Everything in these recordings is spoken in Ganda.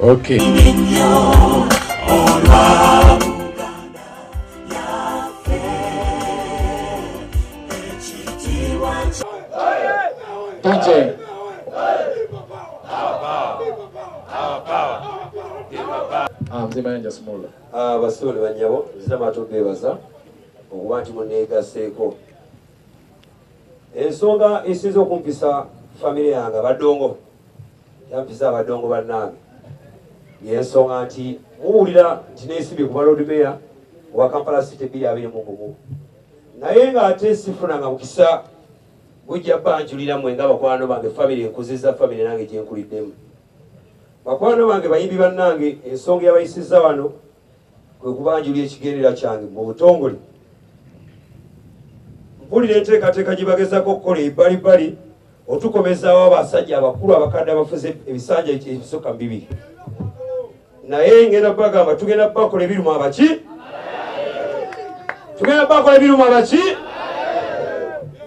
Okay. DJ. Ah, mzee Mayanja Sumula. Ah, basole banyabo, zama tubebaza okuba nti muneegaseeko ensonga esinza okumpisa famire yange abadongo Yampiza abadongo bannange yensonga nti muwulira nti neesibye ku baloodi meya owa kampala city bbiri abiri mu gumu naye ng'ate sifunanga mukisa gujja banjulira mwe nga bakwano bange famire enkuziza famire nange gyenkuliddemu bakwano bange bayimbi bannange ensonga yabayisiza wano kwe kubanjulira ekigendera kyange mu butongole mpulira enteekateeka gye bagezako okukola ebbalibbali otukomezaawo abasajja abakulu abakadde abafuze ebisanja ebisukka mu bibiri naye ngenda bagamba tugenda bakola ebirimu abaki tugenda bakola ebirimu abaki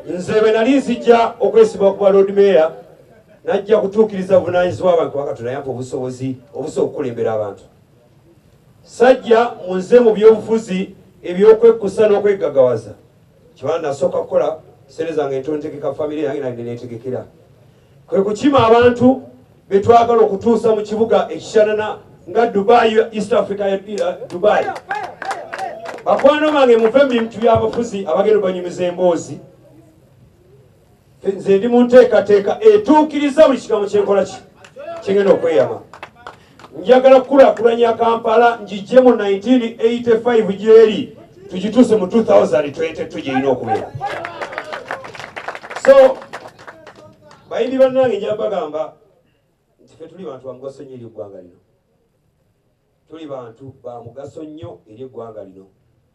nze bwe nali nzijja okwesiba okuba lord mayor najja kutuukiriza buvunanyizibwa abantu wakati nayampa obusobozi obusobola okukulembera abantu Sajja munze mu byobufuzi ebyokwekkusa n'okweggagawaza kiba nasooka kukola sente zange ntontegeka famire yange nali neneetegekera kwe kukima abantu be twagala okutuusa mu kibuga ekisanana nga dubai east africa uh, dubai bakwano bange muve mu bintu byabafuzi abagenda obanyumiza emboozi nze ndi mu nteekateeka etuukiriza buli kigambo kyenkola ki kyengenda okweyama njagala kukulakulanya kampala ngijje mu 1985 gyeri tugituuse mu 2022 gyerina okubeera so bayimbi bannange njabagamba nti fe tuli bantu bamugaso nyo eri eggwanga lino Tuli bantu ba mugaso nnyo eri eggwanga lino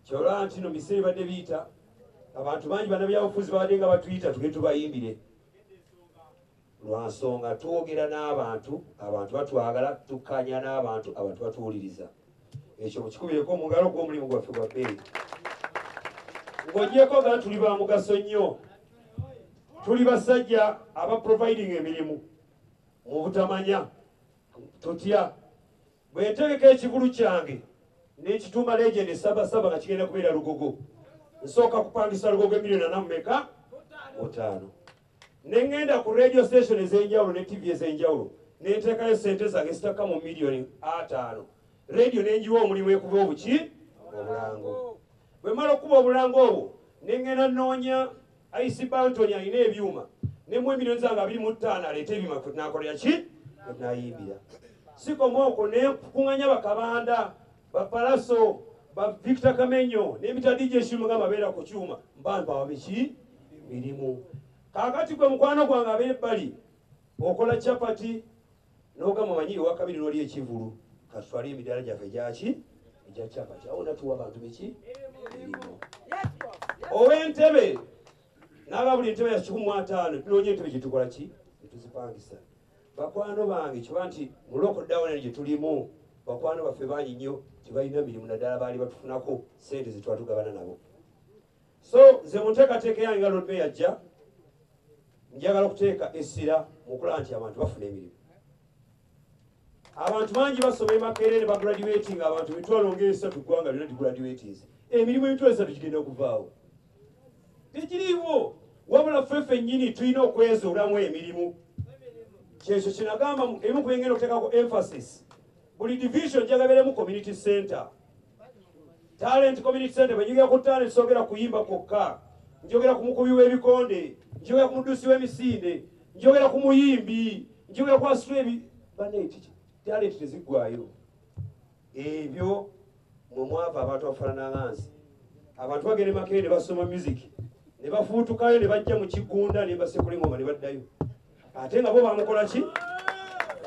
kyolaba nti no biseera ebadde biyita abantu bangi banabyabufuzi babadde nga batuyita tuge tubayimbire lwa nsonga twogera n'abantu abantu batwagala tukkaanya n'abantu abantu batuwuliriza ekyo mukikubireko omugalo gwo omulimu gwaffe gwa bbeeyi ng'ogyeko nga tuli ba mugaso nnyo tuli basajja abaproviding emirimu mu butamanya Totya bwentegeka ekivulu kyange nekituuma legend sabasaba nga kigenda kubeera lugogo nsooka kupangisa lugogo emiliyoni ana mumeka mutaano nengenda ku radio station ezenjawulo ne tv ezenjawulo nenteekayo sente zange zitakka mu miliyoni ataano radio nenjiwa omulimu ekuba obuki obulango bwemala okukuba obulango obwo nengenda noonya IC Bantoni alina ebyuma ne mu emiliyoni zange abiri mu ttaano aleeta ebyuma kwe tunakolera ki kwe tunayimbira sikoma okwo ne kukunganya bakabanda bapalaso ba Victor Kamenyo n'ebitaddi gy'ekimuga babeera ku kyuma mbantu ababiki mirimu kaakati gwe mukwano gwange abeera ebbali okola chapati nogamba manyi ewakabiri noli ekivulu katutwale emidaala gyaffe gyaki egya capati awo natuwa abantu biki erimu owentebe naba buli ntebe yakikumu ataano tunonya entebe gyetukola ki netuzipangisa bakwano bange kiba nti muloko dawona gyetulimu bakwano baffe bangi nnyo tebalina mirimu naddala baali batufunako sente zetwatugabana nabo so nze mu nteekateeka yange nga lord mayor ajja njagala okuteeka essira mu kulaba nti abantu bafuna emirimu abantu bangi basoma emakeere ne bagraduatinga abantu emitwalo ngaesatu ggwanga lyona digraduatins emirimu emitwalo esatu gigenda okuvaawo tekiriiwo wabula ffe fennyini tulina okwezuulamu emirimu kyekyo kinagamba ebimu ku bengenda okuteekako emphasis buli division njagala ebeeremu community center talent community center bwenjogera ku talent sogera kuyimba kwokka njogera ku mukubi w'ebikonde njogera ku mudusi w'emisinde njogera ku muyimbi njogera ku asitula ebi banekiki talent teziggwayo ebyo mwe mwava abantu abafaanana nga nsi abantu bagenda emakere ne basoma music ne bafuutukayo ne bajja mu kigunda ne basekulengoma ne baddayo ate nga bo bamukola ki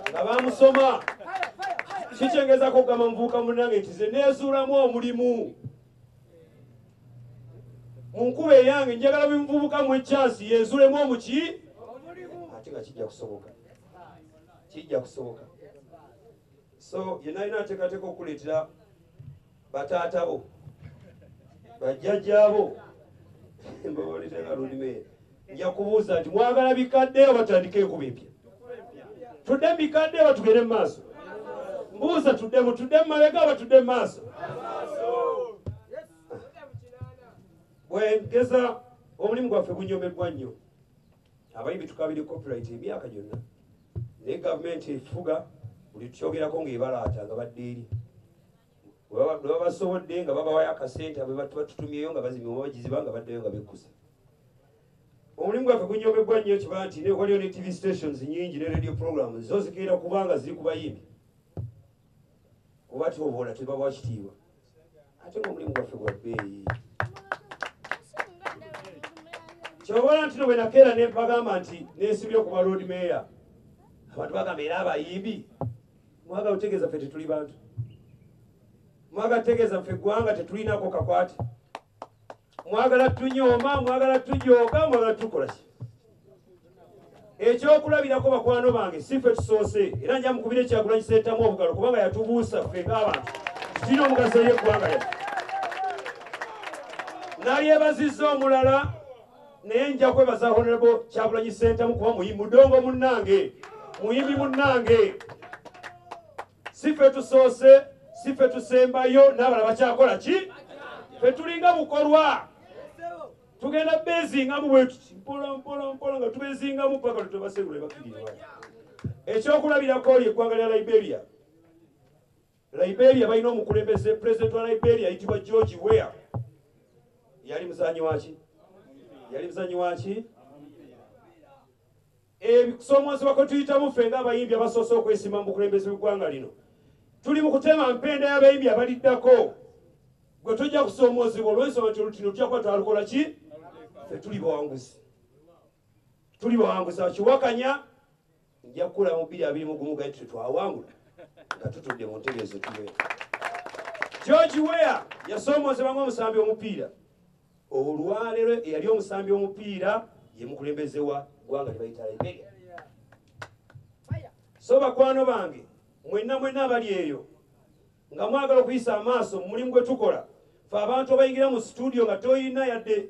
nga bamusoma kikyengezako okugamba muvuuka munange nti ze nezuulamu omulimu mu nkuba eyange njagala bimuvubuka mu ekyansi yezuulemu omuki ate nga kijja kusoboka kijja kusoboka so yenalina ateekateeka okuleetera bataata bo bajjajjaabo mbaboletanga lulime nja kubuuza nti mwagala bikadde oba tutandike enkuba empya tudde mu bikadde oba tugende mu maaso mbuuza tuddemu tudde mu mabega oba tudde mu maaso bwengeza omulimu gwaffe gunyomeddwa nnyo abayimbi tukabire copyright emyaka gyonna naye gavumenti efuga buli tukyogerako ng'ebalaata nga badde eri bwebabasobodde nga babawayo akasente abebatututumyeyo nga bazimye obabagiziba nga baddeyo nga bekkusa omulimu gwaffe gunyomebbwa nnyo kiba nti waliyo ne tv stations nyingi ne radio programs zo zigenda kubanga ziri ku bayimbi oba tyobola tebabawa kitiibwa ate ngaomulimu gwaffe gwa bbeeyi kyobola nti no bwenakeera nempagamba nti nesibye okuba lord mayor abantu bagamba era abayimbi mwagala otegeeza ffe tetuli bantu mwagala tegeeza ffe eggwanga tetulinako kakwate mwagala tunyooma mwagala tujooga mwagala tukola ki ekyokulabirako bakwano bange si ffe tusoose era nja mukubira ekyagulanyi seetamu obugalo kubanga yatubuusa ffe ng'abantu kirina omugaso yeggwanga yaffe nalyebazizza omulala naye nja kwebaza honorable kyagulanyi sentamu kuba muyi mudongo munnange muyimbi munnange sife tusoose sife tusembayo n'abala bakyakola ki fe tulinga bukolwa tugenda bezingamu bwetuti mpola mpola mpola nga tubezingamu paka lutobasegula ebakiriwa ekyokulabirako lye eggwanga lya liberia Liberia balina omukulembeze pulezidenti wa Liberia ayitibwa George Weah. Yali muzanyi waki? Yali muzanyi waki? Ebikusoomoozebwa kwe tuyitamu ffe ng'abayimbi abasoose okwesima mu bukulembeze bw'eggwanga lino. Tuli mu kutema mpenda y'abayimbi abaliddako. Gwe tojja kusoomoozebwa olw'ensonga nti olutino tujja kuba twalukola ki? Ffe tuli bawanguzi. Tuli bawanguzi akiwakanya Nja kukula mu bbiri abiri mu gumu gaye tute twawangula nga tutudde mu ntebe ezo tuwe. George Weah yasoomoozebwa ng'omusambi omupiira. Olwaleero eyali omusambi omupiira ye mukulembeze wa ggwanga lye bayita Liberia. So bakwano bange mwenna mwenna abali eyo nga mwagala okuyisa amaaso mu mulimu gwe tukola fe abantu abayingira mu situdiyo nga toyina yadde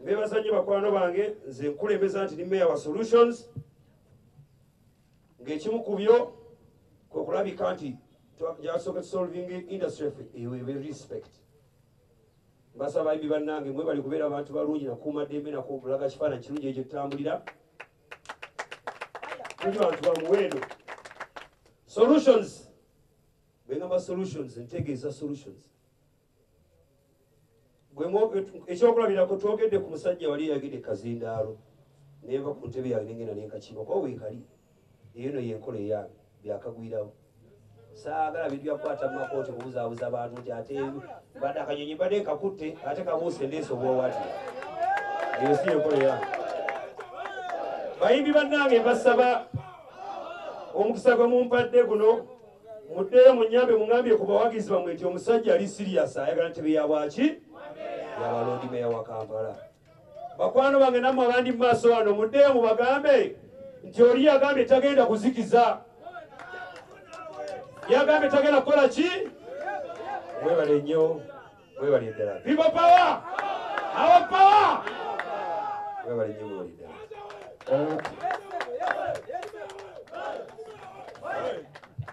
Mbebaza nnyo bakwano bange nze nkulembeza nti ni mayor wa solutions ng'ekimu ku byo kwe kulabika nti gyasooka tusolving industry ffe ewewe respect basaba ibi bannange mwe bali kubeera abantu balungi nakuuma ddembe nakulaga kifaananyi kirungi ekyo tutambulira tuli bantu ba muwendo solutions bengamba solutions ntegeeza solutions ekyokulabirako twogedde ku musajja wali eyagidde kazindaalo neva ku ntebe yange nengenda nenkakiba kuba weekali eyo no yenkola eya byakagwirawo saagala bintu byakukwata mu makooti kubuzaabuza abantu nti ate mbadde akanyonyi mbadde nkakutte ate kabuuse ndeesa obwowati eyo si yenkola eya bayimbi bannange mbasaba omukisa gwe mumpadde guno muddeyo munyambe mungambye ku bawagizi bamwe nti omusajja ali sirias ayagala ntebe ya bwaki yabaloodi meya wa kampala bakwano bange namwe abandi mu maaso wano muddeyo mubagambe nti oli yagambye tagenda kuzikiza yagambye tagenda kukola ki webale nnyo webale ddala pipo pawa awa pawa webale nnyo webale ddala Thank you.